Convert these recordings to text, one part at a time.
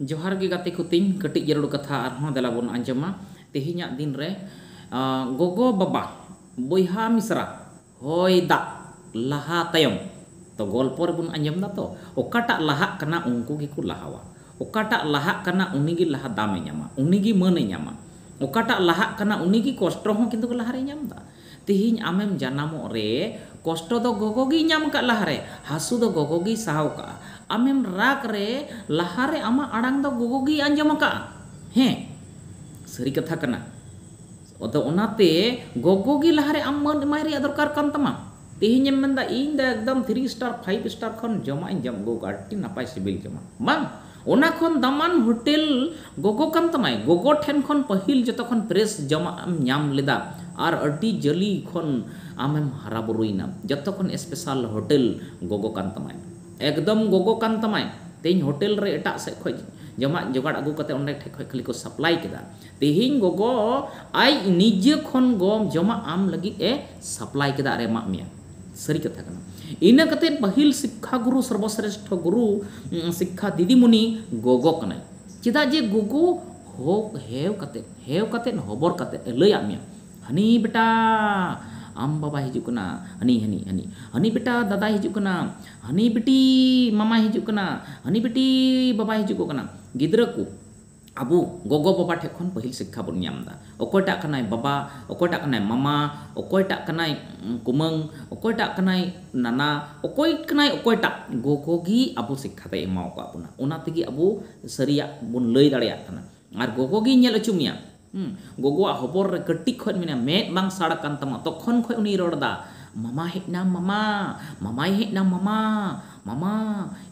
ᱡᱚᱦᱟᱨ ᱜᱮ ᱜᱟᱛᱮ ᱠᱚ ᱛᱤᱧ ᱠᱟᱹᱴᱤᱡ ᱡᱟᱹᱨᱩᱲ ᱠᱟᱛᱷᱟ ᱟᱨᱦᱚᱸ ᱫᱮᱞᱟ ᱵᱚᱱ ᱟᱸᱡᱚᱢᱟ ᱛᱮᱦᱮᱧᱟᱜ ᱫᱤᱱ ᱨᱮ ᱜᱚᱜᱚ ᱵᱟᱵᱟ ᱵᱚᱭᱦᱟ ᱢᱤᱥᱨᱟ ᱦᱚᱭ ᱫᱟᱜ ᱞᱟᱦᱟ ᱛᱟᱭᱚᱢ ᱛᱚ ᱜᱚᱞᱯᱚ ᱨᱮᱵᱚᱱ ᱟᱸᱡᱚᱢ ᱫᱟ ᱛᱚ ᱚᱠᱟᱴᱟᱜ ᱞᱟᱦᱟᱜ ᱠᱟᱱᱟ ᱩᱱᱠᱩ ᱜᱮᱠᱚ ᱞᱟᱦᱟᱣᱟ ᱚᱠᱟᱴᱟᱜ ᱞᱟᱦᱟᱜ ᱠᱟᱱᱟ ᱩᱱᱤ ᱜᱮ ᱞᱟᱦᱟ ᱫᱟᱢᱮ ᱧᱟᱢᱟ ᱩᱱᱤ ᱜᱮ ᱢᱟᱹᱱᱮ ᱧᱟᱢᱟ ᱚᱠᱟᱴᱟᱜ ᱞᱟᱦᱟᱜ ᱠᱟᱱᱟ ᱩᱱᱤ ᱜᱮ ᱠᱚᱥᱴᱚ ᱦᱚᱸ ᱠᱤᱱᱛᱩ ᱞᱟᱦᱟ ᱨᱮᱭ ᱧᱟᱢ ᱫᱟ ᱛᱤᱦᱤᱧ ᱟᱢᱮᱢ ᱡᱟᱱᱟᱢᱚᱜ ᱨᱮ ᱠᱚᱥᱴᱚ ᱫᱚ ᱜᱚᱜᱚ ᱜᱮᱭ ᱧᱟᱢ ᱟᱠᱟᱫ ᱞᱟᱦᱟ ᱨᱮ ᱦᱟᱹᱥᱩ ᱫᱚ ᱜᱚᱜᱚ ᱜᱮᱭ ᱥᱟᱦᱟᱣ ᱟᱠᱟᱫᱼᱟ ᱟᱢᱮᱢ ᱨᱟᱜᱽ ᱨᱮ ᱞᱟᱦᱟ ᱨᱮ ᱟᱢᱟᱜ ᱟᱲᱟᱝ ᱫᱚ ᱜᱚᱜᱚ ᱜᱮᱭ ᱟᱸᱡᱚᱢ ᱟᱠᱟᱫᱼᱟ ᱦᱮᱸ ᱥᱟᱹᱨᱤ ᱠᱟᱛᱷᱟ ᱠᱟᱱᱟ ᱟᱫᱚ ᱚᱱᱟᱛᱮ ᱜᱚᱜᱚ ᱜᱮ ᱞᱟᱦᱟ ᱨᱮ ᱟᱢ ᱢᱟᱹᱱ ᱮᱢᱟᱭ ᱨᱮᱭᱟᱜ ᱫᱚᱨᱠᱟᱨ ᱠᱟᱱ ᱛᱟᱢᱟ ᱛᱤᱦᱤᱧ ᱮᱢ ᱢᱮᱱ ᱮᱫᱟ ᱤᱧ ᱫᱚ ᱮᱠᱫᱚᱢ ᱛᱷᱨᱤ ᱥᱴᱟᱨ ᱯᱷᱟᱭᱤᱵᱷ ᱥᱴᱟᱨ ᱠᱷᱚᱱ ᱡᱚᱢᱟᱜ ᱤᱧ ᱡᱚᱢ ᱟᱹᱜᱩ ᱟᱠᱟᱫᱼᱟ ᱟᱹᱰᱤ ᱱᱟᱯᱟᱭ ᱥᱤᱵᱤᱞ ᱡᱚᱢᱟᱜ ᱵᱟᱝ ᱚᱱᱟ ᱠᱷᱚᱱ ᱫᱟᱢᱟᱱ ᱦᱳᱴᱮᱞ ᱜᱚᱜᱚ ᱠᱟᱱ ᱛᱟᱢᱟᱭ᱾ ᱜᱚᱜᱚ ᱴᱷᱮᱱ ᱠᱷᱚᱱ ᱯᱟᱹᱦᱤᱞ ᱡᱚᱛᱚ ᱠᱷᱚᱱ ᱯᱷᱨᱮᱥ ᱡᱚᱢᱟᱜ ᱮᱢ ᱧᱟᱢ ᱞᱮᱫᱟ ᱟᱨ ᱟᱹᱰᱤ ᱡᱟᱹᱞᱤ ᱠᱷᱚᱱ ᱟᱢᱮᱢ ᱦᱟᱨᱟ ᱵᱩᱨᱩᱭᱮᱱᱟ᱾ ᱡᱚᱛᱚ ᱠᱷᱚᱱ ᱮᱥᱯᱮᱥᱟᱞ ᱦᱳᱴᱮᱞ ᱜᱚᱜᱚ ᱠᱟᱱ ᱛᱟᱢᱟᱭ᱾ ᱮᱠᱫᱚᱢ ᱜᱚᱜᱚ ᱠᱟᱱ ᱛᱟᱢᱟᱭ᱾ ᱛᱮᱦᱮᱧ ᱦᱳᱴᱮᱞ ᱨᱮ ᱮᱴᱟᱜ ᱥᱮᱫ ᱠᱷᱚᱱ ᱡᱚᱢᱟᱜ ᱡᱚᱜᱟᱲ ᱟᱹᱜᱩ ᱠᱟᱛᱮ ᱚᱸᱰᱮ ᱴᱷᱮᱱ ᱠᱷᱚᱱ ᱠᱷᱟᱹᱞᱤ ᱠᱚ ᱥᱟᱯᱞᱟᱭ ᱠᱮᱫᱟ᱾ ᱛᱮᱦᱮᱧ ᱜᱚᱜᱚ ᱟᱡ ᱱᱤᱡᱮ ᱠᱷᱚᱱ ᱜᱚ ᱡᱚᱢᱟᱜ ᱟᱢ ᱞᱟᱹᱜᱤᱫ ᱮ ᱥᱟᱯᱞᱟᱭ ᱠᱮᱫᱟ ᱟᱨ ᱮ ᱮᱢᱟᱜ ᱢᱮᱭᱟ᱾ ᱥᱟᱹᱨᱤ ᱠᱟᱛᱷᱟ ᱠᱟᱱᱟ ᱤᱱᱟᱹ ᱠᱟᱛᱮ ᱯᱟᱹᱦᱤᱞ ᱥᱤᱠᱠᱷᱟ ᱜᱩᱨᱩ ᱥᱚᱨᱵᱚᱥᱨᱮᱥᱴᱷᱚ ᱜᱩᱨᱩ ᱥᱤᱠᱠᱷᱟ ᱫᱤᱫᱤᱢᱩᱱᱤ ᱜᱚᱜᱚ ᱠᱟᱱᱟᱭ ᱪᱮᱫᱟᱜ ᱡᱮ ᱜᱚᱜᱚ ᱦᱚ ᱦᱮᱣ ᱠᱟᱛᱮ ᱦᱮᱣ ᱠᱟᱛᱮ ᱦᱚᱵᱚᱨ ᱠᱟᱛᱮ ᱮ ᱞᱟᱹᱭᱟᱫ ᱢᱮᱭᱟ ᱦᱟᱹᱱᱤ ᱵᱮᱴᱟ ᱟᱢ ᱵᱟᱵᱟᱭ ᱦᱤᱡᱩᱜ ᱠᱟᱱᱟ ᱦᱟᱹᱱᱤ ᱦᱟᱹᱱᱤ ᱦᱟᱹᱱᱤ ᱦᱟᱹᱱᱤ ᱵᱮᱴᱟ ᱫᱟᱫᱟᱭ ᱦᱤᱡᱩᱜ ᱠᱟᱱᱟ ᱦᱟᱹᱱᱤ ᱵᱤᱴᱤ ᱢᱟᱢᱟᱭ ᱦᱤᱡᱩᱜ ᱠᱟᱱᱟ ᱦᱟᱹᱱᱤ ᱵᱤᱴᱤ ᱵᱟᱵᱟᱭ ᱦᱤᱡᱩᱜᱚᱜ ᱠᱟᱱᱟ ᱜᱤᱫᱽᱨᱟᱹ ᱠᱚ ᱟᱵᱚ ᱜᱚᱜᱚ ᱵᱟᱵᱟ ᱴᱷᱮᱡ ᱠᱷᱚᱱ ᱯᱟᱹᱦᱤᱞ ᱥᱤᱠᱠᱷᱟ ᱵᱚᱱ ᱧᱟᱢ ᱮᱫᱟ᱾ ᱚᱠᱚᱭᱴᱟᱜ ᱠᱟᱱᱟᱭ ᱵᱟᱵᱟ, ᱚᱠᱚᱭᱴᱟᱜ ᱠᱟᱱᱟᱭ ᱢᱟᱢᱟ, ᱚᱠᱚᱭᱴᱟᱜ ᱠᱟᱱᱟᱭ ᱠᱩᱢᱟᱹᱝ, ᱚᱠᱚᱭᱴᱟᱜ ᱠᱟᱱᱟᱭ ᱱᱟᱱᱟ, ᱚᱠᱚᱭ ᱠᱟᱱᱟᱭ ᱚᱠᱚᱭᱴᱟᱜ, ᱜᱚᱜᱚ ᱜᱮ ᱟᱵᱚ ᱥᱤᱠᱠᱷᱟ ᱫᱚᱭ ᱮᱢᱟᱣ ᱟᱠᱟᱫ ᱵᱚᱱᱟ᱾ ᱚᱱᱟ ᱛᱮᱜᱮ ᱟᱵᱚ ᱥᱟᱹᱨᱤᱭᱟᱜ ᱵᱚᱱ ᱞᱟᱹᱭ ᱫᱟᱲᱮᱭᱟᱜ ᱠᱟᱱᱟ᱾ ᱟᱨ ᱜᱚᱜᱚ ᱜᱮᱭ ᱧᱮᱞ ᱚᱪᱚ ᱢᱮᱭᱟ᱾ ᱜᱚᱜᱚᱣᱟᱜ ᱦᱚᱵᱚᱨ ᱨᱮ ᱠᱟᱹᱴᱤᱡ ᱠᱷᱚᱡ ᱢᱮᱱᱟᱭᱟ, ᱢᱮᱫ ᱵᱟᱝ ᱥᱟᱲ ᱟᱠᱟᱱ ᱛᱟᱢᱟ ᱛᱚᱠᱷᱚᱱ ᱠᱷᱚᱡ ᱩᱱᱤᱭ ᱨᱚᱲ ᱮᱫᱟ, ᱢᱟᱢᱟ ᱦᱮᱡ ᱮᱱᱟᱢ ᱢᱟᱢᱟ, ᱢᱟᱢᱟᱭ ᱦᱮᱡ ᱮᱱᱟᱢ ᱢᱟᱢᱟ, ᱢᱟᱢᱟ,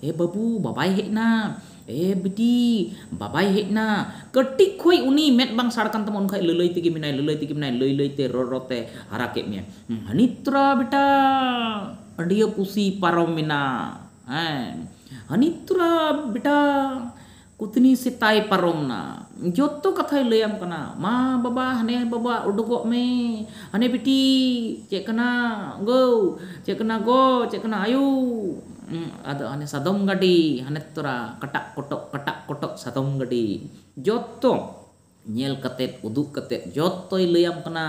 ᱮ ᱵᱟᱹᱵᱩ ᱵᱟᱵᱟᱭ ᱦᱮᱡ ᱮᱱᱟ᱾ ᱮ ᱵᱤᱴᱤ, ᱵᱟᱵᱟᱭ ᱦᱮᱡ ᱮᱱᱟ᱾ ᱠᱟᱹᱴᱤᱡ ᱠᱷᱚᱡ ᱩᱱᱤ ᱢᱮᱫ ᱵᱟᱝ ᱥᱟᱲ ᱠᱟᱱ ᱛᱟᱢᱟ ᱩᱱ ᱠᱷᱚᱡ ᱞᱟᱹᱞᱟᱹᱭ ᱛᱮᱜᱮ ᱢᱮᱱᱟᱭ, ᱞᱟᱹᱞᱟᱹᱭ ᱛᱮᱜᱮ ᱢᱮᱱᱟᱭ, ᱞᱟᱹᱭ ᱞᱟᱹᱭ ᱛᱮ ᱨᱚᱲ ᱨᱚᱲ ᱛᱮ ᱦᱟᱨᱟ ᱠᱮᱫ ᱢᱮᱭᱟ᱾ ᱦᱟᱹᱱᱤᱛᱨᱟ ᱵᱮᱴᱟ ᱟᱹᱰᱤᱭᱟᱹ ᱯᱩᱥᱤ ᱯᱟᱨᱚᱢ ᱮᱱᱟ᱾ ᱦᱮᱸ ᱦᱟᱹᱱᱤᱛᱨᱟ ᱵᱮᱴᱟ ᱠᱩᱛᱱᱤ ᱥᱮᱛᱟᱭ ᱯᱟᱨᱚᱢ ᱮᱱᱟ᱾ ᱡᱚᱛᱚ ᱠᱟᱛᱷᱟᱭ ᱞᱟᱹᱭ ᱟᱢ ᱠᱟᱱᱟ᱾ ᱢᱟ ᱵᱟᱵᱟ ᱦᱟᱱᱮ ᱵᱟᱵᱟ ᱚᱰᱚᱠᱚᱜ ᱢᱮ᱾ ᱦᱟᱱᱮ ᱵᱤᱴᱤ ᱪᱮᱫ ᱠᱟᱱᱟ ᱜᱳ, ᱪᱮᱫ ᱠᱟᱱᱟ ᱜᱚ, ᱪᱮᱫ ᱠᱟᱱᱟ ᱟᱭᱳ᱾ ᱩᱸ ᱟᱫᱚ ᱦᱟᱱᱮ ᱥᱟᱫᱚᱢ ᱜᱟᱹᱰᱤ ᱦᱟᱱᱮ ᱛᱚᱨᱟ ᱠᱟᱴᱟᱜ ᱠᱚᱴᱚᱜ ᱠᱟᱴᱟᱜ ᱠᱚᱴᱚᱜ ᱥᱟᱫᱚᱢ ᱜᱟᱹᱰᱤ᱾ ᱡᱚᱛᱚ ᱧᱮᱞ ᱠᱟᱛᱮ ᱩᱫᱩᱜ ᱠᱟᱛᱮ ᱡᱚᱛᱚᱭ ᱞᱟᱹᱭ ᱟᱢ ᱠᱟᱱᱟ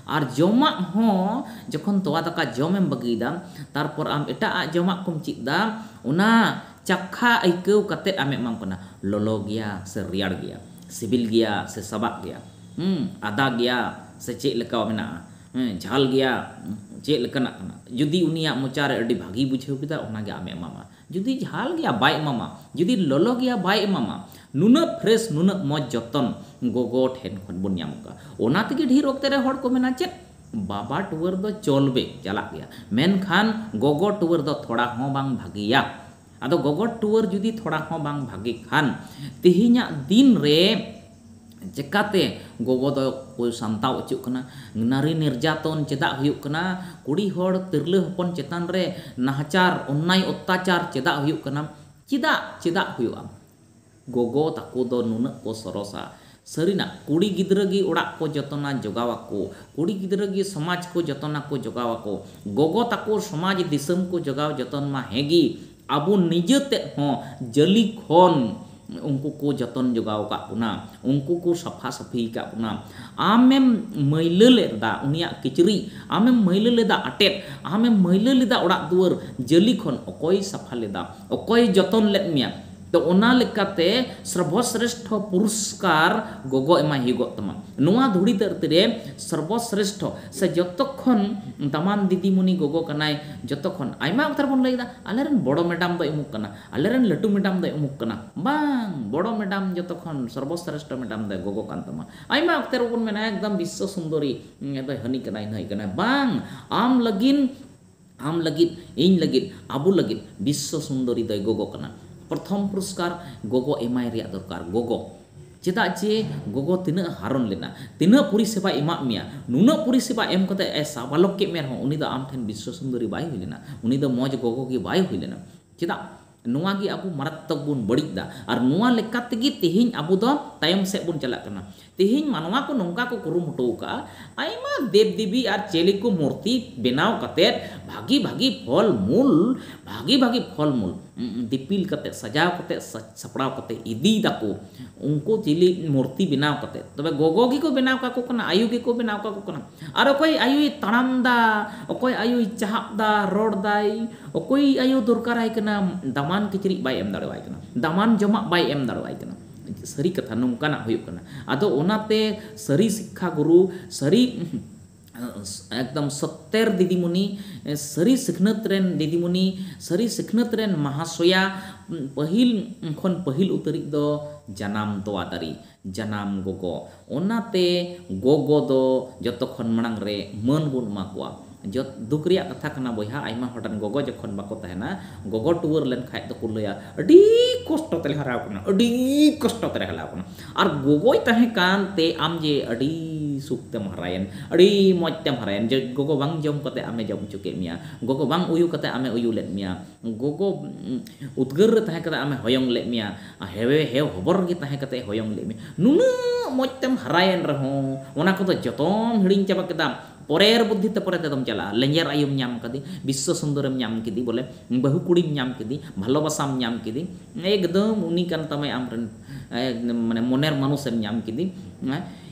ᱟᱨ ᱡᱚᱢᱟᱜ ᱦᱚᱸ ᱡᱚᱠᱷᱚᱱ ᱛᱚᱣᱟ ᱫᱟᱠᱟ ᱡᱚᱢ ᱮᱢ ᱵᱟᱹᱜᱤ ᱮᱫᱟ ᱛᱟᱨᱯᱚᱨ ᱟᱢ ᱮᱴᱟᱜ ᱟᱜ ᱡᱚᱢᱟᱜ ᱠᱚᱢ ᱪᱮᱫ ᱮᱫᱟ ᱚᱱᱟ ᱪᱟᱠᱷᱟ ᱟᱹᱭᱠᱟᱹᱣ ᱠᱟᱛᱮ ᱟᱢᱮ ᱮᱢᱟᱢ ᱠᱟᱱᱟ ᱞᱚᱞᱚ ᱜᱮᱭᱟ ᱥᱮ ᱨᱮᱭᱟᱲ ᱜᱮᱭᱟ ᱥᱤᱵᱤᱞ ᱜᱮᱭᱟ ᱥᱮ ᱥᱟᱵᱟᱜ ᱜᱮᱭᱟ ᱦᱩᱸ ᱟᱫᱟ ᱜᱮᱭᱟ ᱥᱮ ᱪᱮᱫ ᱞᱮᱠᱟᱣ ᱢᱮᱱᱟᱜᱼᱟ ᱦᱮᱸ ᱡᱷᱟᱞ ᱜᱮᱭᱟ ᱪᱮᱫ ᱞᱮᱠᱟᱱᱟᱜ ᱠᱟᱱᱟ ᱡᱩᱫᱤ ᱩᱱᱤᱭᱟᱜ ᱢᱚᱪᱟ ᱨᱮ ᱟᱹᱰᱤ ᱵᱷᱟᱹᱜᱤ ᱵᱩᱡᱷᱟᱹᱣ ᱠᱮᱫᱟ ᱚᱱᱟ ᱜᱮ ᱟᱢᱮ ᱮᱢᱟᱢᱟ ᱡᱩᱫᱤ ᱡᱷᱟᱞ ᱜᱮᱭᱟ ᱵᱟᱭ ᱮᱢᱟᱢᱟ ᱡᱩᱫᱤ ᱞᱚᱞᱚ ᱜᱮᱭᱟ ᱵᱟᱭ ᱮᱢᱟᱢᱟ ᱱᱩᱱᱟᱹᱜ ᱯᱷᱨᱮᱥ ᱱᱩᱱᱟᱹᱜ ᱢᱚᱡᱽ ᱡᱚᱛᱚᱱ ᱜᱚᱜᱚ ᱴᱷᱮᱱ ᱠᱷᱚᱱ ᱵᱚᱱ ᱧᱟᱢ ᱠᱟᱜᱼᱟ ᱚᱱᱟ ᱛᱮᱜᱮ ᱰᱷᱮᱨ ᱚᱠᱛᱮ ᱨᱮ ᱦᱚᱲ ᱠᱚ ᱢᱮᱱᱟ ᱪᱮᱫ ᱵᱟᱵᱟ ᱴᱩᱣᱟᱹᱨ ᱫᱚ ᱪᱚᱞᱵᱮ ᱪᱟᱞᱟᱜ ᱜᱮᱭᱟ ᱢᱮᱱᱠᱷᱟᱱ ᱜᱚᱜᱚ ᱴᱩᱣᱟᱹᱨ ᱫᱚ ᱛᱷᱚᱲᱟ ᱦᱚᱸ ᱵᱟᱝ ᱵᱷᱟᱹᱜᱤᱭᱟ ᱟᱫᱚ ᱜᱚᱜᱚ ᱴᱩᱣᱟᱹᱨ ᱡᱩᱫᱤ ᱛᱷᱚᱲᱟ ᱦᱚᱸ ᱵᱟᱝ ᱵᱷᱟᱜᱮ ᱠᱷᱟᱱ ᱛᱮᱦᱮᱧᱟᱜ ᱫᱤᱱ ᱨᱮ ᱪᱮᱠᱟᱛᱮ ᱜᱚᱜᱚ ᱫᱚ ᱠᱚ ᱥᱟᱢᱴᱟᱣ ᱚᱪᱚᱜ ᱠᱟᱱᱟ? ᱱᱟᱨᱤ ᱱᱤᱨᱡᱟᱛᱚᱱ ᱪᱮᱫᱟᱜ ᱦᱩᱭᱩᱜ ᱠᱟᱱᱟ? ᱠᱩᱲᱤ ᱦᱚᱲ ᱛᱤᱨᱞᱟᱹ ᱦᱚᱯᱚᱱ ᱪᱮᱛᱟᱱ ᱨᱮ ᱱᱟᱦᱟᱪᱟᱨ, ᱚᱱᱱᱟᱭ ᱚᱛᱛᱟᱪᱟᱨ ᱪᱮᱫᱟᱜ ᱦᱩᱭᱩᱜ ᱠᱟᱱᱟ? ᱪᱮᱫᱟᱜ ᱪᱮᱫᱟᱜ ᱦᱩᱭᱩᱜᱼᱟ? ᱜᱚᱜᱚ ᱛᱟᱠᱚ ᱫᱚ ᱱᱩᱱᱟᱹᱜ ᱠᱚ ᱥᱚᱨᱚᱥᱟ᱾ ᱥᱟᱹᱨᱤᱱᱟᱜ, ᱠᱩᱲᱤ ᱜᱤᱫᱽᱨᱟᱹ ᱜᱮ ᱚᱲᱟᱜ ᱠᱚ ᱡᱚᱛᱚᱱᱟ ᱡᱚᱜᱟᱣ ᱟᱠᱚ᱾ ᱠᱩᱲᱤ ᱜᱤᱫᱽᱨᱟᱹ ᱜᱮ ᱥᱚᱢᱟᱡᱽ ᱠᱚ ᱡᱚᱛᱚᱱᱟ ᱠᱚ ᱡᱚᱜᱟᱣ ᱟᱠᱚ᱾ ᱜᱚᱜᱚ ᱛᱟᱠᱚ ᱥᱚᱢᱟᱡᱽ ᱫᱤᱥᱟᱹᱢ ᱠᱚ ᱡᱚᱜᱟᱣ ᱡᱚᱛᱚᱱ ᱢᱟ ᱦᱮᱸ ᱜᱮ, ᱟᱵᱚ ᱱᱤᱡᱟᱹ ᱛᱮᱫ ᱦᱚᱸ ᱡᱟᱹᱞᱤ ᱠᱷᱚᱱ ᱩᱱᱠᱩ ᱠᱚ ᱡᱚᱛᱚᱱ ᱡᱚᱜᱟᱣ ᱟᱠᱟᱫ ᱵᱚᱱᱟ᱾ ᱩᱱᱠᱩ ᱠᱚ ᱥᱟᱯᱷᱟ ᱥᱟᱹᱯᱷᱤ ᱟᱠᱟᱫ ᱵᱚᱱᱟ᱾ ᱟᱢᱮᱢ ᱢᱟᱹᱭᱞᱟᱹ ᱞᱮᱫᱟ ᱩᱱᱤᱭᱟᱜ ᱠᱤᱪᱨᱤᱡ, ᱟᱢᱮᱢ ᱢᱟᱹᱭᱞᱟᱹ ᱞᱮᱫᱟ ᱟᱴᱮᱫ, ᱟᱢᱮᱢ ᱢᱟᱹᱭᱞᱟᱹ ᱞᱮᱫᱟ ᱚᱲᱟᱜ ᱫᱩᱣᱟᱹᱨ, ᱡᱟᱹᱞᱤ ᱠᱷᱚᱱ ᱚᱠᱚᱭᱮ ᱥᱟᱯᱷᱟ ᱞᱮᱫᱟ? ᱚᱠᱚᱭᱮ ᱡᱚᱛᱚᱱ ᱞᱮᱫ ᱢᱮᱭᱟ? ᱛᱚ ᱚᱱᱟ ᱞᱮᱠᱟᱛᱮ ᱥᱨᱵᱚᱥᱨᱮᱥᱴᱷᱚ ᱯᱩᱨᱚᱥᱠᱟᱨ ᱜᱚᱜᱚ ᱮᱢᱟᱭ ᱦᱩᱭᱩᱜᱚᱜ ᱛᱟᱢᱟ᱾ ᱱᱚᱣᱟ ᱫᱷᱩᱲᱤ ᱫᱷᱟᱹᱨᱛᱤ ᱨᱮ ᱥᱨᱵᱚᱥᱨᱮᱥᱴᱷᱚ ᱥᱮ ᱡᱚᱛᱚ ᱠᱷᱚᱱ ᱫᱟᱢᱟᱱ ᱫᱤᱫᱤᱢᱩᱱᱤ ᱜᱚᱜᱚ ᱠᱟᱱᱟᱭ ᱡᱚᱛᱚ ᱠᱷᱚᱱ᱾ ᱟᱭᱢᱟ ᱚᱠᱛᱚ ᱨᱮᱵᱚᱱ ᱞᱟᱹᱭ ᱮᱫᱟ ᱟᱞᱮ ᱨᱮᱱ ᱵᱚᱲᱚ ᱢᱮᱰᱟᱢ ᱫᱚᱭ ᱩᱢᱩᱠ ᱠᱟᱱᱟ, ᱟᱞᱮ ᱨᱮᱱ ᱞᱟᱹᱴᱩ ᱢᱮᱰᱟᱢ ᱫᱚᱭ ᱩᱢᱩᱠ ᱠᱟᱱᱟ᱾ ᱵᱟᱝ, ᱵᱚᱲᱚ ᱢᱮᱰᱟᱢ ᱡᱚᱛᱚ ᱠᱷᱚᱱ ᱥᱨᱵᱚᱥᱨᱮᱥᱴᱷᱚ ᱢᱮᱰᱟᱢ ᱫᱚᱭ ᱜᱚᱜᱚ ᱠᱟᱱ ᱛᱟᱢᱟ᱾ ᱟᱭᱢᱟ ᱚᱠᱛᱚ ᱨᱮᱵᱚᱱ ᱢᱮᱱᱟ ᱮᱠᱫᱚᱢ ᱵᱤᱥᱥᱚ ᱥᱩᱱᱫᱚᱨᱤ ᱫᱚᱭ ᱦᱟᱹᱱᱤ ᱠᱟᱱᱟᱭ ᱱᱷᱟᱹᱭ ᱠᱟᱱᱟᱭ᱾ ᱵᱟᱝ, ᱟᱢ ᱞᱟᱹᱜᱤᱱ᱾ ᱟᱢ ᱞᱟᱹᱜᱤᱫ, ᱤᱧ ᱞᱟᱹᱜᱤᱫ, ᱟᱵᱚ ᱞᱟᱹᱜᱤᱫ ᱵᱤᱥᱥᱚ ᱥᱩᱱᱫᱚᱨᱤ ᱫᱚᱭ ᱜᱚᱜᱚ ᱠᱟᱱᱟ᱾ ᱯᱨᱚᱛᱷᱚᱢ ᱯᱩᱨᱚᱥᱠᱟᱨ ᱜᱚᱜᱚ ᱮᱢᱟᱭ ᱨᱮᱭᱟᱜ ᱫᱚᱨᱠᱟᱨ᱾ ᱜᱚᱜᱚ᱾ ᱪᱮᱫᱟᱜ ᱡᱮ ᱜᱚᱜᱚ ᱛᱤᱱᱟᱹᱜ ᱦᱟᱨᱚᱱ ᱞᱮᱱᱟ, ᱛᱤᱱᱟᱹᱜ ᱯᱚᱨᱤᱥᱮᱵᱟᱭ ᱮᱢᱟᱫ ᱢᱮᱭᱟ, ᱱᱩᱱᱟᱹᱜ ᱯᱚᱨᱤᱥᱮᱵᱟ ᱮᱢ ᱠᱟᱛᱮ ᱮ ᱥᱟᱵᱟᱞᱚᱠ ᱠᱮᱫ ᱢᱮ ᱨᱮᱦᱚᱸ ᱩᱱᱤ ᱫᱚ ᱟᱢ ᱴᱷᱮᱱ ᱵᱤᱥᱥᱚ ᱥᱩᱱᱫᱚᱨᱤ ᱵᱟᱭ ᱦᱩᱭ ᱞᱮᱱᱟ, ᱩᱱᱤ ᱫᱚ ᱢᱚᱡᱽ ᱜᱚᱜᱚ ᱜᱮ ᱵᱟᱭ ᱦᱩᱭ ᱞᱮᱱᱟ᱾ ᱪᱮᱫᱟᱜ? ᱱᱚᱣᱟ ᱜᱮ ᱟᱵᱚ ᱢᱟᱨᱟᱛᱛᱚᱠ ᱵᱚᱱ ᱵᱟᱹᱲᱤᱡ ᱮᱫᱟ ᱟᱨ ᱱᱚᱣᱟ ᱞᱮᱠᱟ ᱛᱮᱜᱮ ᱛᱮᱦᱮᱧ ᱟᱵᱚ ᱫᱚ ᱛᱟᱭᱚᱢ ᱥᱮᱫ ᱵᱚᱱ ᱪᱟᱞᱟᱜ ᱠᱟᱱᱟ᱾ ᱛᱮᱦᱮᱧ ᱢᱟᱱᱣᱟ ᱠᱚ ᱱᱚᱝᱠᱟ ᱠᱚ ᱠᱩᱨᱩᱢᱩᱴᱩ ᱟᱠᱟᱫᱼᱟ ᱟᱭᱢᱟ ᱫᱮᱵᱽ ᱫᱮᱵᱤ ᱟᱨ ᱪᱮᱞᱮ ᱠᱚ ᱢᱩᱨᱛᱤ ᱵᱮᱱᱟᱣ ᱠᱟᱛᱮ ᱵᱷᱟᱹᱜᱤ ᱵᱷᱟᱹᱜᱤ ᱯᱷᱚᱞ ᱢᱩᱞ ᱵᱷᱟᱹᱜᱤ ᱵᱷᱟᱹᱜᱤ ᱯᱷᱚᱞ ᱢᱩᱞ ᱫᱤᱯᱤᱞ ᱠᱟᱛᱮ ᱥᱟᱡᱟᱣ ᱠᱟᱛᱮ ᱥᱟᱡᱽ ᱥᱟᱯᱲᱟᱣ ᱠᱟᱛᱮ ᱤᱫᱤᱭ ᱮᱫᱟᱠᱚ ᱩᱱᱠᱩ ᱪᱤᱞᱤ ᱢᱩᱨᱛᱤ ᱵᱮᱱᱟᱣ ᱠᱟᱛᱮ ᱛᱚᱵᱮ ᱜᱚᱜᱚ ᱜᱮᱠᱚ ᱵᱮᱱᱟᱣ ᱠᱟᱠᱚ ᱠᱟᱱᱟ ᱟᱭᱳ ᱜᱮᱠᱚ ᱵᱮᱱᱟᱣ ᱠᱟᱠᱚ ᱠᱟᱱᱟ᱾ ᱟᱨ ᱚᱠᱚᱭ ᱟᱭᱳᱭ ᱛᱟᱲᱟᱢ ᱮᱫᱟ ᱚᱠᱚᱭ ᱟᱭᱳᱭ ᱪᱟᱦᱟᱵ ᱮᱫᱟ ᱨᱚᱲ ᱮᱫᱟᱭ ᱚᱠᱚᱭ ᱟᱭᱳ ᱫᱚᱨᱠᱟᱨ ᱟᱭ ᱠᱟᱱᱟ ᱫᱟᱢᱟᱱ ᱠᱤᱪᱨᱤᱡ ᱵᱟᱭ ᱮᱢ ᱫᱟᱲᱮ ᱟᱭ ᱠᱟᱱᱟ ᱫᱟᱢᱟᱱ ᱡᱚᱢᱟᱜ ᱵᱟᱭ ᱮᱢ ᱫᱟᱲᱮ ᱟᱭ ᱠᱟᱱᱟ ᱥᱟᱹᱨᱤ ᱠᱟᱛᱷᱟ ᱱᱚᱝᱠᱟᱱᱟᱜ ᱦᱩᱭᱩᱜ ᱠᱟᱱᱟ ᱟᱫᱚ ᱚᱱᱟᱛᱮ ᱥᱟᱹᱨᱤ ᱥᱤᱠᱠᱷᱟ ᱜᱩᱨᱩ ᱥᱟᱹᱨᱤ ᱮᱠᱫᱚᱢ ᱥᱚᱛᱛᱮᱨ ᱫᱤᱫᱤᱢᱩᱱᱤ ᱥᱟᱹᱨᱤ ᱥᱤᱠᱷᱱᱟᱹᱛ ᱨᱮᱱ ᱫᱤᱫᱤᱢᱩᱱᱤ ᱥᱟᱹᱨᱤ ᱥᱤᱠᱷᱱᱟᱹᱛ ᱨᱮᱱ ᱢᱟᱦᱟᱥᱚᱭᱟ ᱯᱟᱹᱦᱤᱞ ᱠᱷᱚᱱ ᱯᱟᱹᱦᱤᱞ ᱩᱛᱟᱹᱨᱤᱡ ᱫᱚ ᱡᱟᱱᱟᱢ ᱛᱚᱣᱟ ᱫᱟᱨᱮ ᱡᱟᱱᱟᱢ ᱜᱚᱜᱚ᱾ ᱚᱱᱟᱛᱮ ᱜᱚᱜᱚ ᱫᱚ ᱡᱚᱛᱚ ᱠᱷᱚᱱ ᱢᱟᱲᱟᱝ ᱨᱮ ᱢᱟᱹᱱ ᱵᱚᱱ ᱮᱢᱟ ᱠᱚᱣᱟ᱾ ᱡᱚᱛ ᱫᱩᱠ ᱨᱮᱭᱟᱜ ᱠᱟᱛᱷᱟ ᱠᱟᱱᱟ ᱵᱚᱭᱦᱟ ᱟᱭᱢᱟ ᱦᱚᱲ ᱨᱮᱱ ᱜᱚᱜᱚ ᱡᱚᱠᱷᱚᱱ ᱵᱟᱠᱚ ᱛᱟᱦᱮᱸᱱᱟ, ᱜᱚᱜᱚ ᱴᱩᱣᱟᱹᱨ ᱞᱮᱱ ᱠᱷᱟᱡ ᱫᱚ ᱠᱚ ᱞᱟᱹᱭᱟ ᱟᱹᱰᱤ ᱠᱚᱥᱴᱚ ᱛᱮᱞᱮ ᱦᱟᱨᱟ ᱟᱠᱟᱱᱟ, ᱟᱹᱰᱤ ᱠᱚᱥᱴᱚ ᱛᱮᱞᱮ ᱦᱟᱞᱟ ᱟᱠᱟᱱᱟ᱾ ᱟᱨ ᱜᱚᱜᱚᱭ ᱛᱟᱦᱮᱸ ᱠᱟᱱ ᱛᱮ ᱟᱢ ᱡᱮ ᱟᱹᱰᱤ ᱥᱩᱠ ᱛᱮᱢ ᱦᱟᱨᱟᱭᱮᱱ, ᱟᱹᱰᱤ ᱢᱚᱡᱽ ᱛᱮᱢ ᱦᱟᱨᱟᱭᱮᱱ᱾ ᱡᱮ ᱜᱚᱜᱚ ᱵᱟᱝ ᱡᱚᱢ ᱠᱟᱛᱮ ᱟᱢᱮ ᱡᱚᱢ ᱚᱪᱚ ᱠᱮᱫ ᱢᱮᱭᱟ, ᱜᱚᱜᱚ ᱵᱟᱝ ᱩᱭᱩ ᱠᱟᱛᱮ ᱟᱢᱮ ᱩᱭᱩ ᱞᱮᱫ ᱢᱮᱭᱟ᱾ ᱜᱚᱜᱚ ᱩᱫᱽᱜᱟᱹᱨ ᱨᱮ ᱛᱟᱦᱮᱸ ᱠᱟᱛᱮ ᱟᱢᱮ ᱦᱚᱭᱚᱝ ᱞᱮᱫ ᱢᱮᱭᱟ ᱟᱨ ᱦᱮᱣᱮ ᱦᱮᱣ ᱦᱚᱵᱚᱨ ᱨᱮᱜᱮ ᱛᱟᱦᱮᱸ ᱠᱟᱛᱮ ᱮ ᱦᱚᱭᱚᱝ ᱞᱮᱫ ᱢᱮᱭᱟ᱾ ᱱᱩᱱᱟᱹᱜ ᱢᱚᱡᱽ ᱛᱮᱢ ᱦᱟᱨᱟᱭᱮᱱ ᱨᱮᱦᱚᱸ ᱚᱱᱟ ᱠᱚᱫᱚ ᱡᱚᱛᱚᱢ ᱦᱤᱲᱤᱧ ᱪᱟᱵᱟ ᱠᱮᱫᱟ᱾ ᱯᱚᱨᱮᱨ ᱵᱩᱫᱽᱫᱷᱤ ᱛᱮ ᱯᱚᱨᱮ ᱛᱮᱫᱚᱢ ᱪᱟᱞᱟᱜᱼᱟ᱾ ᱞᱮᱸᱡᱮᱨ ᱟᱭᱳᱢ ᱧᱟᱢ ᱠᱟᱫᱮ, ᱵᱤᱥᱥᱚ ᱥᱩᱱᱫᱚᱨᱮᱢ ᱧᱟᱢ ᱠᱮᱫᱮ ᱵᱚᱞᱮ, ᱵᱟᱹᱦᱩ ᱠᱩᱲᱤᱢ ᱧᱟᱢ ᱠᱮᱫᱮ, ᱵᱷᱟᱞᱚᱵᱟᱥᱟᱢ ᱧᱟᱢ ᱠᱮᱫᱮ, ᱮᱠᱫᱚᱢ ᱩᱱᱤ ᱠᱟᱱ ᱛᱟᱢᱟᱭ ᱟᱢ ᱨᱮᱱ ᱢᱟᱱᱮ ᱢᱚᱱᱮᱨ ᱢᱟᱱᱩᱥ ᱮᱢ ᱧᱟᱢ ᱠᱮᱫᱮ᱾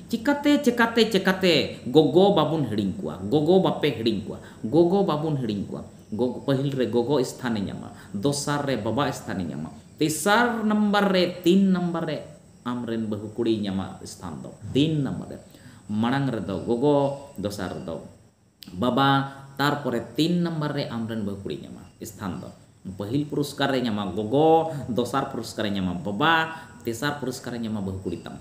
ᱪᱮᱠᱟᱛᱮ ᱪᱮᱠᱟᱛᱮ ᱪᱮᱠᱟᱛᱮ ᱜᱚᱜᱚ ᱵᱟᱵᱚᱱ ᱦᱤᱲᱤᱧ ᱠᱚᱣᱟ, ᱜᱚᱜᱚ ᱵᱟᱯᱮ ᱦᱤᱲᱤᱧ ᱠᱚᱣᱟ, ᱜᱚᱜᱚ ᱵᱟᱵᱚᱱ ᱦᱤᱲᱤᱧ ᱠᱚᱣᱟ᱾ ᱜᱚᱜᱚ ᱯᱟᱹᱦᱤᱞ ᱨᱮ ᱜᱚᱜᱚ ᱥᱛᱷᱟᱱ ᱮ ᱧᱟᱢᱟ, ᱫᱚᱥᱟᱨ ᱨᱮ ᱵᱟᱵᱟ ᱥᱛᱷᱟᱱ ᱮ ᱧᱟᱢᱟ, ᱛᱮᱥᱟᱨ ᱱᱟᱢᱵᱟᱨ ᱨᱮ ᱛᱤᱱ ᱱᱟᱢᱵᱟᱨ ᱨᱮ ᱟᱢ ᱨᱮᱱ ᱵᱟᱹᱦᱩ ᱠᱩᱲᱤᱭ ᱧᱟᱢᱟ ᱥᱛᱷᱟᱱ ᱫᱚ ᱛᱤᱱ ᱱᱟᱢᱵᱟᱨ ᱨᱮ ᱢᱟᱲᱟᱝ ᱨᱮᱫᱚ ᱜᱚᱜᱚ ᱫᱚᱥᱟᱨ ᱨᱮᱫᱚ ᱵᱟᱵᱟ ᱛᱟᱨᱯᱚᱨᱮ ᱛᱤᱱ ᱱᱟᱢᱵᱟᱨ ᱨᱮ ᱟᱢ ᱨᱮᱱ ᱵᱟᱹᱦᱩ ᱠᱩᱲᱤᱭ ᱧᱟᱢᱟ ᱥᱛᱷᱟᱱ ᱫᱚ ᱯᱟᱹᱦᱤᱞ ᱯᱩᱨᱚᱥᱠᱟᱨ ᱮ ᱧᱟᱢᱟ ᱜᱚᱜᱚ, ᱫᱚᱥᱟᱨ ᱯᱩᱨᱚᱥᱠᱟᱨ ᱮ ᱧᱟᱢᱟ ᱵᱟᱵᱟ, ᱛᱮᱥᱟᱨ ᱯᱩᱨᱚᱥᱠᱟᱨᱮ ᱧᱟᱢᱟ ᱵᱟᱹᱦᱩ ᱠᱩᱲᱤ ᱛᱟᱢ᱾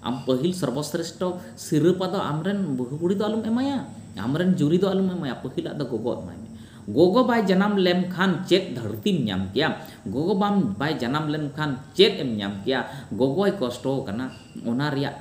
ᱟᱢ ᱯᱟᱹᱦᱤᱞ ᱥᱚᱨᱵᱚᱥᱨᱮᱥᱴᱷᱚ ᱥᱤᱨᱟᱹᱯᱟ ᱫᱚ ᱟᱢ ᱨᱮᱱ ᱵᱟᱹᱦᱩ ᱠᱩᱲᱤ ᱫᱚ ᱟᱞᱚᱢ ᱮᱢᱟᱭᱟ᱾ ᱟᱢ ᱨᱮᱱ ᱡᱩᱨᱤ ᱫᱚ ᱟᱞᱚᱢ ᱮᱢᱟᱭᱟ᱾ ᱯᱟᱹᱦᱤᱞᱟᱜ ᱫᱚ ᱜᱚᱜᱚ ᱮᱢᱟᱭ ᱢᱮ᱾ ᱜᱚᱜᱚ ᱵᱟᱭ ᱡᱟᱱᱟᱢ ᱞᱮᱢ ᱠᱷᱟᱱ ᱪᱮᱫ ᱫᱷᱟᱹᱨᱛᱤᱢ ᱧᱟᱢ ᱠᱮᱭᱟ? ᱜᱚᱜᱚ ᱵᱟᱢ ᱵᱟᱭ ᱡᱟᱱᱟᱢ ᱞᱮᱱ ᱠᱷᱟᱱ ᱪᱮᱫ ᱮᱢ ᱧᱟᱢ ᱠᱮᱭᱟ? ᱜᱚᱜᱚᱭ ᱠᱚᱥᱴᱚ ᱟᱠᱟᱱᱟ ᱚᱱᱟ ᱨᱮᱭᱟᱜ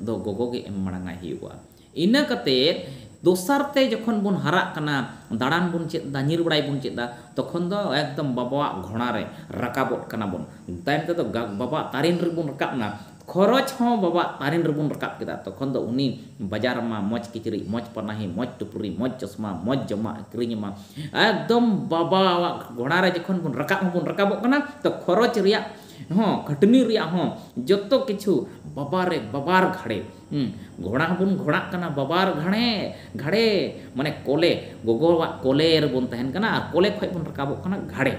ᱫᱚ ᱜᱚᱜᱚ ᱜᱮ ᱮᱢ ᱢᱟᱲᱟᱝ ᱟᱭ ᱦᱩᱭᱩᱜᱼᱟ᱾ ᱤᱱᱟᱹ ᱠᱟᱛᱮ ᱫᱚᱥᱟᱨ ᱛᱮ ᱡᱚᱠᱷᱚᱱ ᱵᱚᱱ ᱦᱟᱨᱟᱜ ᱠᱟᱱᱟ, ᱫᱟᱬᱟᱱ ᱵᱚᱱ ᱪᱮᱫ ᱮᱫᱟ, ᱧᱤᱨ ᱵᱟᱲᱟᱭ ᱵᱚᱱ ᱪᱮᱫ ᱮᱫᱟ, ᱛᱚᱠᱷᱚᱱ ᱫᱚ ᱮᱠᱫᱚᱢ ᱵᱟᱵᱟᱣᱟᱜ ᱜᱷᱚᱬᱟ ᱨᱮ ᱨᱟᱠᱟᱵᱚᱜ ᱠᱟᱱᱟ ᱵᱚᱱ᱾ ᱛᱟᱭᱚᱢ ᱛᱮᱫᱚ ᱵᱟᱵᱟᱣᱟᱜ ᱛᱟᱨᱮᱱ ᱨᱮᱵᱚᱱ ᱨᱟᱠᱟᱵ ᱮᱱᱟ᱾ ᱠᱷᱚᱨᱚᱪ ᱦᱚᱸ ᱵᱟᱵᱟᱣᱟᱜ ᱛᱟᱨᱮᱱ ᱨᱮᱵᱚᱱ ᱨᱟᱠᱟᱵ ᱠᱮᱫᱟ᱾ ᱛᱚᱠᱷᱚᱱ ᱫᱚ ᱩᱱᱤ ᱵᱟᱡᱟᱨ ᱟᱢᱟ, ᱢᱚᱡᱽ ᱠᱤᱪᱨᱤᱡ, ᱢᱚᱡᱽ ᱯᱟᱱᱟᱦᱤ, ᱢᱚᱡᱽ ᱴᱩᱯᱨᱤ, ᱢᱚᱡᱽ ᱪᱚᱥᱢᱟ, ᱢᱚᱡᱽ ᱡᱚᱢᱟᱜ ᱮ ᱠᱤᱨᱤᱧ ᱟᱢᱟ᱾ ᱮᱠᱫᱚᱢ ᱵᱟᱵᱟᱣᱟᱜ ᱜᱷᱚᱬᱟ ᱨᱮ ᱡᱚᱠᱷᱚᱱ ᱵᱚᱱ ᱨᱟᱠᱟᱵ ᱦᱚᱸ ᱵᱚᱱ ᱨᱟᱠᱟᱵᱚᱜ ᱠᱟᱱᱟ ᱛᱚ ᱠᱷᱚᱨᱚᱪ ᱨᱮᱭᱟᱜ ᱦᱚᱸ, ᱠᱷᱟᱹᱴᱱᱤ ᱨᱮᱭᱟᱜ ᱦᱚᱸ ᱡᱚᱛᱚ ᱠᱤᱪᱷᱩ ᱵᱟᱵᱟ ᱨᱮ ᱵᱟᱵᱟᱨ ᱜᱷᱟᱲᱮ᱾ ᱦᱩᱸ ᱜᱷᱚᱲᱟ ᱦᱚᱸᱵᱚᱱ ᱜᱷᱚᱲᱟᱜ ᱠᱟᱱᱟ ᱵᱟᱵᱟᱨ ᱜᱷᱟᱲᱮ ᱜᱷᱟᱲᱮ ᱢᱟᱱᱮ ᱠᱚᱞᱮ ᱜᱚᱜᱚᱣᱟᱜ ᱠᱚᱞᱮ ᱨᱮᱵᱚᱱ ᱛᱟᱦᱮᱱ ᱠᱟᱱᱟ ᱟᱨ ᱠᱚᱞᱮ ᱠᱷᱚᱡ ᱵᱚᱱ ᱨᱟᱠᱟᱵᱚᱜ ᱠᱟᱱᱟ ᱜᱷᱟᱲᱮ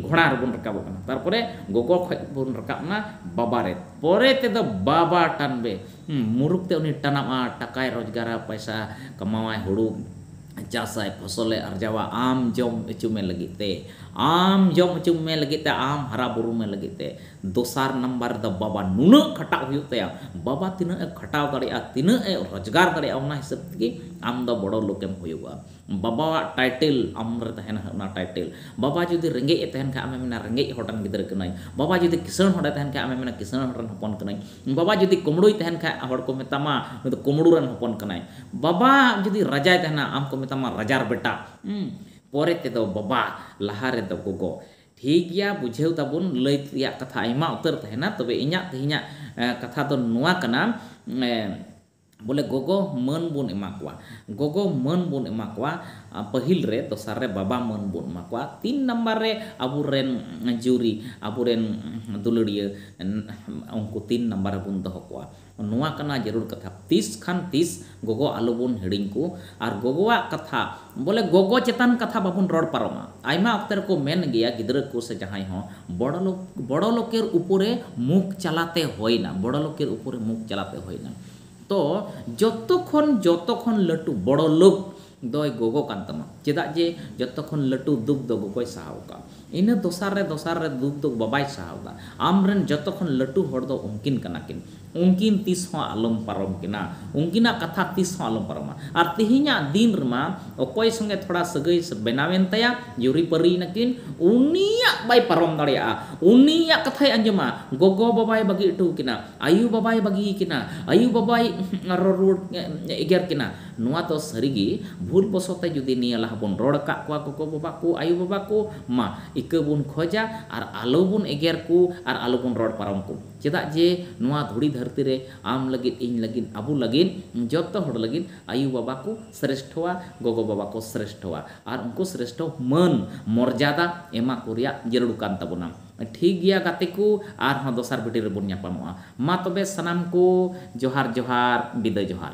ᱜᱷᱚᱲᱟ ᱨᱮᱵᱚᱱ ᱨᱟᱠᱟᱵᱚᱜ ᱠᱟᱱᱟ ᱛᱟᱨᱯᱚᱨᱮ ᱜᱚᱜᱚ ᱠᱷᱚᱡ ᱵᱚᱱ ᱨᱟᱠᱟᱵ ᱮᱱᱟ ᱵᱟᱵᱟ ᱨᱮ ᱯᱚᱨᱮ ᱛᱮᱫᱚ ᱵᱟᱵᱟ ᱴᱟᱱᱵᱮ ᱢᱩᱨᱩᱠ ᱛᱮ ᱩᱱᱤ ᱴᱟᱱᱟᱣᱟ ᱴᱟᱠᱟᱭ ᱨᱚᱡᱽᱜᱟᱨᱟ ᱯᱟᱭᱥᱟ ᱠᱟᱢᱟᱣᱟᱭ ᱦᱩᱲᱩ ᱪᱟᱥᱟᱭ ᱯᱷᱚᱥᱚᱞᱮ ᱟᱨᱡᱟᱣᱟ ᱟᱢ ᱡᱚᱢ ᱚᱪᱚ ᱢᱮ ᱞᱟᱹᱜᱤᱫ ᱛᱮ ᱟᱢ ᱡᱚᱢ ᱚᱪᱚ ᱢᱮ ᱞᱟᱹᱜᱤᱫ ᱛᱮ ᱟᱢ ᱦᱟᱨᱟ ᱵᱩᱨᱩ ᱢᱮ ᱞᱟᱹᱜᱤᱫ ᱛᱮ ᱫᱚᱥᱟᱨ ᱱᱟᱢᱵᱟᱨ ᱨᱮᱫᱚ ᱵᱟᱵᱟ ᱱᱩᱱᱟᱹᱜ ᱠᱷᱟᱴᱟᱜ ᱦᱩᱭᱩᱜ ᱛᱟᱭᱟ᱾ ᱵᱟᱵᱟ ᱛᱤᱱᱟᱹᱜ ᱮ ᱠᱷᱟᱴᱟᱣ ᱫᱟᱲᱮᱭᱟᱜᱼᱟ, ᱛᱤᱱᱟᱹᱜ ᱮ ᱨᱚᱡᱽᱜᱟᱨ ᱫᱟᱲᱮᱭᱟᱜᱼᱟ ᱚᱱᱟ ᱦᱤᱥᱟᱹᱵᱽ ᱛᱮᱜᱮ ᱟᱢ ᱫᱚ ᱵᱚᱲᱚ ᱞᱳᱠ ᱮᱢ ᱦᱩᱭᱩᱜᱚᱜᱼᱟ᱾ ᱵᱟᱵᱟᱣᱟᱜ ᱴᱟᱭᱴᱮᱞ ᱟᱢ ᱨᱮ ᱛᱟᱦᱮᱸᱱᱟ ᱚᱱᱟ ᱴᱟᱭᱴᱮᱞ᱾ ᱵᱟᱵᱟ ᱡᱩᱫᱤ ᱨᱮᱸᱜᱮᱡ ᱮ ᱛᱟᱦᱮᱸᱱ ᱠᱷᱟᱱ ᱟᱢᱮᱢ ᱢᱮᱱᱟ ᱨᱮᱸᱜᱮᱡ ᱦᱚᱲ ᱨᱮᱱ ᱜᱤᱫᱽᱨᱟᱹ ᱠᱟᱹᱱᱟᱹᱧ᱾ ᱵᱟᱵᱟ ᱡᱩᱫᱤ ᱠᱤᱥᱟᱹᱬ ᱦᱚᱲ ᱮ ᱛᱟᱦᱮᱸᱱ ᱠᱷᱟᱱ ᱟᱢᱮᱢ ᱢᱮᱱᱟ ᱠᱤᱥᱟᱹᱬ ᱦᱚᱲ ᱨᱮᱱ ᱦᱚᱯᱚᱱ ᱠᱟᱹᱱᱟᱹᱧ᱾ ᱵᱟᱵᱟ ᱡᱩᱫᱤ ᱠᱳᱢᱲᱳᱭ ᱛᱟᱦᱮᱸᱱ ᱠᱷᱟᱱ ᱦᱚᱲ ᱠᱚ ᱢᱮᱛᱟᱢᱟ ᱱᱩᱭ ᱫᱚ ᱠᱳᱢᱲᱳ ᱨᱮᱱ ᱦᱚᱯᱚᱱ ᱠᱟᱱᱟᱭ᱾ ᱵᱟᱵᱟ ᱡᱩᱫᱤ ᱨᱟᱡᱟᱭ ᱛᱟᱦᱮᱸᱱᱟ ᱟᱢ ᱠᱚ ᱢᱮᱛᱟᱢᱟ ᱨᱟᱡᱟᱨ ᱵᱮᱴᱟ᱾ ᱯᱚᱨᱮ ᱛᱮᱫᱚ ᱵᱟᱵᱟ, ᱞᱟᱦᱟ ᱨᱮᱫᱚ ᱜᱚᱜᱚ᱾ ᱴᱷᱤᱠ ᱜᱮᱭᱟ ᱵᱩᱡᱷᱟᱹᱣ ᱛᱟᱵᱚᱱ ᱞᱟᱹᱭ ᱛᱮᱭᱟᱜ ᱠᱟᱛᱷᱟ ᱟᱭᱢᱟ ᱩᱛᱟᱹᱨ ᱛᱟᱦᱮᱱᱟ ᱛᱚᱵᱮ ᱤᱧᱟᱜ ᱛᱮᱦᱮᱧᱟᱜ ᱠᱟᱛᱷᱟ ᱫᱚ ᱱᱚᱣᱟ ᱠᱟᱱᱟ ᱵᱚᱞᱮ ᱜᱚᱜᱚ ᱢᱟᱹᱱ ᱵᱚᱱ ᱮᱢᱟ ᱠᱚᱣᱟ ᱜᱚᱜᱚ ᱢᱟᱹᱱ ᱵᱚᱱ ᱮᱢᱟ ᱠᱚᱣᱟ ᱯᱟᱹᱦᱤᱞ ᱨᱮ ᱫᱚᱥᱟᱨ ᱨᱮ ᱵᱟᱵᱟ ᱢᱟᱹᱱ ᱵᱚᱱ ᱮᱢᱟ ᱠᱚᱣᱟ ᱛᱤᱱ ᱱᱟᱢᱵᱟᱨ ᱨᱮ ᱟᱵᱚ ᱨᱮᱱ ᱡᱩᱨᱤ ᱟᱵᱚ ᱨᱮᱱ ᱫᱩᱞᱟᱹᱲᱤᱭᱟᱹ ᱩᱱᱠᱩ ᱛᱤᱱ ᱱᱟᱢᱵᱟᱨ ᱨᱮᱵᱚᱱ ᱫᱚᱦᱚ ᱠᱚᱣᱟ ᱱᱚᱣᱟ ᱠᱟᱱᱟ ᱡᱟᱹᱨᱩᱲ ᱠᱟᱛᱷᱟ᱾ ᱛᱤᱥ ᱠᱷᱟᱱ ᱛᱤᱥ ᱜᱚᱜᱚ ᱟᱞᱚ ᱵᱚᱱ ᱦᱤᱲᱤᱧ ᱠᱚ ᱟᱨ ᱜᱚᱜᱚᱣᱟᱜ ᱠᱟᱛᱷᱟ ᱵᱚᱞᱮ ᱜᱚᱜᱚ ᱪᱮᱛᱟᱱ ᱠᱟᱛᱷᱟ ᱵᱟᱵᱚᱱ ᱨᱚᱲ ᱯᱟᱨᱚᱢᱟ᱾ ᱟᱭᱢᱟ ᱚᱠᱛᱮ ᱨᱮᱠᱚ ᱢᱮᱱ ᱜᱮᱭᱟ ᱜᱤᱫᱽᱨᱟᱹ ᱠᱚ ᱥᱮ ᱡᱟᱦᱟᱸᱭ ᱦᱚᱸ ᱵᱚᱲᱚ ᱞᱚᱠ ᱵᱚᱲᱚ ᱞᱚᱠᱮᱨ ᱩᱯᱚᱨᱮ ᱢᱩᱠᱷ ᱪᱟᱞᱟᱛᱮ ᱦᱚᱭᱱᱟ ᱵᱚᱲᱚ ᱞᱚᱠᱮᱨ ᱩᱯᱚᱨᱮ ᱢᱩᱠᱷ ᱪᱟᱞᱟᱛᱮ ᱦᱚᱭᱱᱟ ᱛᱚ ᱡᱚᱛᱚ ᱠᱷᱚᱱ ᱡᱚᱛᱚ ᱠᱷᱚᱱ ᱞᱟᱹᱴᱩ ᱵᱚᱲᱚ ᱞᱚᱠ ᱫᱚᱭ ᱜᱚᱜᱚ ᱠᱟᱱ ᱛᱟᱢᱟ᱾ ᱪᱮᱫᱟᱜ ᱡᱮ ᱡᱚᱛᱚ ᱠᱷᱚᱱ ᱞᱟᱹᱴᱩ ᱫᱩᱠ ᱫᱚ ᱜᱚᱜᱚᱭ ᱥᱟᱦᱟᱣ ᱟᱠᱟᱫᱼᱟ᱾ ᱤᱱᱟᱹ ᱫᱚᱥᱟᱨ ᱨᱮ ᱫᱚᱥᱟᱨ ᱨᱮ ᱫᱩᱠ ᱫᱚ ᱵᱟᱵᱟᱭ ᱥᱟᱦᱟᱣ ᱮᱫᱟ᱾ ᱟᱢ ᱨᱮᱱ ᱡᱚᱛᱚ ᱠᱷᱚᱱ ᱞᱟᱹᱴᱩ ᱦᱚᱲ ᱫᱚ ᱩᱱᱠᱤᱱ ᱠᱟᱱᱟ ᱠᱤᱱ᱾ ᱩᱱᱠᱤᱱ ᱛᱤᱥ ᱦᱚᱸ ᱟᱞᱚᱢ ᱯᱟᱨᱚᱢ ᱠᱤᱱᱟ᱾ ᱩᱱᱠᱤᱱᱟᱜ ᱠᱟᱛᱷᱟ ᱛᱤᱥ ᱦᱚᱸ ᱟᱞᱚᱢ ᱯᱟᱨᱚᱢᱟ᱾ ᱟᱨ ᱛᱮᱦᱮᱧᱟᱜ ᱫᱤᱱ ᱨᱮᱢᱟ ᱚᱠᱚᱭ ᱥᱚᱸᱜᱮ ᱛᱷᱚᱲᱟ ᱥᱟᱹᱜᱟᱹᱭ ᱵᱮᱱᱟᱣ ᱮᱱ ᱛᱟᱭᱟ, ᱡᱩᱨᱤ ᱯᱟᱹᱨᱤ ᱮᱱᱟ ᱠᱤᱱ, ᱩᱱᱤᱭᱟᱜ ᱵᱟᱭ ᱯᱟᱨᱚᱢ ᱫᱟᱲᱮᱭᱟᱜᱼᱟ᱾ ᱩᱱᱤᱭᱟᱜ ᱠᱟᱛᱷᱟᱭ ᱟᱸᱡᱚᱢᱟ᱾ ᱜᱚᱜᱚ ᱵᱟᱵᱟᱭ ᱵᱟᱹᱜᱤ ᱚᱴᱚ ᱟᱠᱤᱱᱟ᱾ ᱟᱭᱳ ᱵᱟᱵᱟᱭ ᱵᱟᱹᱜᱤ ᱟᱠᱤᱱᱟ᱾ ᱟᱭᱳ ᱵᱟᱵᱟᱭ ᱨᱚᱲ ᱨᱩᱣᱟᱹᱲ ᱮᱜᱮᱨ ᱠᱤᱱᱟ᱾ ᱱᱚᱣᱟ ᱫᱚ ᱥᱟᱹᱨᱤ ᱜᱮ ᱵᱷᱩᱞ ᱵᱚᱥᱚ ᱛᱮ ᱡᱩᱫᱤ ᱱᱤᱭᱟᱹ ᱞᱟᱦᱟ ᱵᱚᱱ ᱨᱚᱲ ᱟᱠᱟᱫ ᱠᱚᱣᱟ ᱜᱚᱜᱚ ᱵᱟᱵᱟ ᱠᱚ, ᱟᱭᱳ ᱵᱟᱵᱟ ᱠᱚ, ᱢᱟ ᱤᱠᱟᱹ ᱵᱚᱱ ᱠᱷᱚᱡᱟ ᱟᱨ ᱟᱞᱚ ᱵᱚᱱ ᱮᱜᱮᱨ ᱠᱚ ᱟᱨ ᱟᱞᱚ ᱵᱚᱱ ᱨᱚᱲ ᱯᱟᱨᱚᱢ ᱠᱚ᱾ ᱪᱮᱫᱟᱜ ᱡᱮ ᱱᱚᱣᱟ ᱫᱷᱩᱲᱤ ᱫᱷᱟᱹᱨᱛᱤ ᱨᱮ ᱟᱢ ᱞᱟᱹᱜᱤᱫ, ᱤᱧ ᱞᱟᱹᱜᱤᱫ, ᱟᱵᱚ ᱞᱟᱹᱜᱤᱫ, ᱡᱚᱛᱚ ᱦᱚᱲ ᱞᱟᱹᱜᱤᱫ ᱟᱭᱳ ᱵᱟᱵᱟ ᱠᱚ ᱥᱨᱮᱥᱴᱷᱚᱣᱟ, ᱜᱚᱜᱚ ᱵᱟᱵᱟ ᱠᱚ ᱥᱨᱮᱥᱴᱷᱚᱣᱟ ᱟᱨ ᱩᱱᱠᱩ ᱥᱨᱮᱥᱴᱷᱚ ᱢᱟᱹᱱ, ᱢᱚᱨᱡᱟᱫᱟ ᱮᱢᱟ ᱠᱚ ᱨᱮᱭᱟᱜ ᱡᱟᱹᱨᱩᱲ ᱠᱟᱱ ᱛᱟᱵᱚᱱᱟ᱾ ᱴᱷᱤᱠ ᱜᱮᱭᱟ ᱜᱟᱛᱮ ᱠᱚ ᱟᱨ ᱦᱚᱸ ᱫᱚᱥᱟᱨ ᱵᱷᱤᱰᱤᱭᱳ ᱨᱮ ᱵᱚᱱ ᱧᱟᱯᱟᱢᱚᱜᱼᱟ ᱢᱟ ᱛᱚᱵᱮ ᱥᱟᱱᱟᱢ ᱠᱚ ᱡᱚᱦᱟᱨ ᱡᱚᱦᱟᱨ ᱵᱤᱫᱟᱹᱭ ᱡᱚᱦᱟᱨ᱾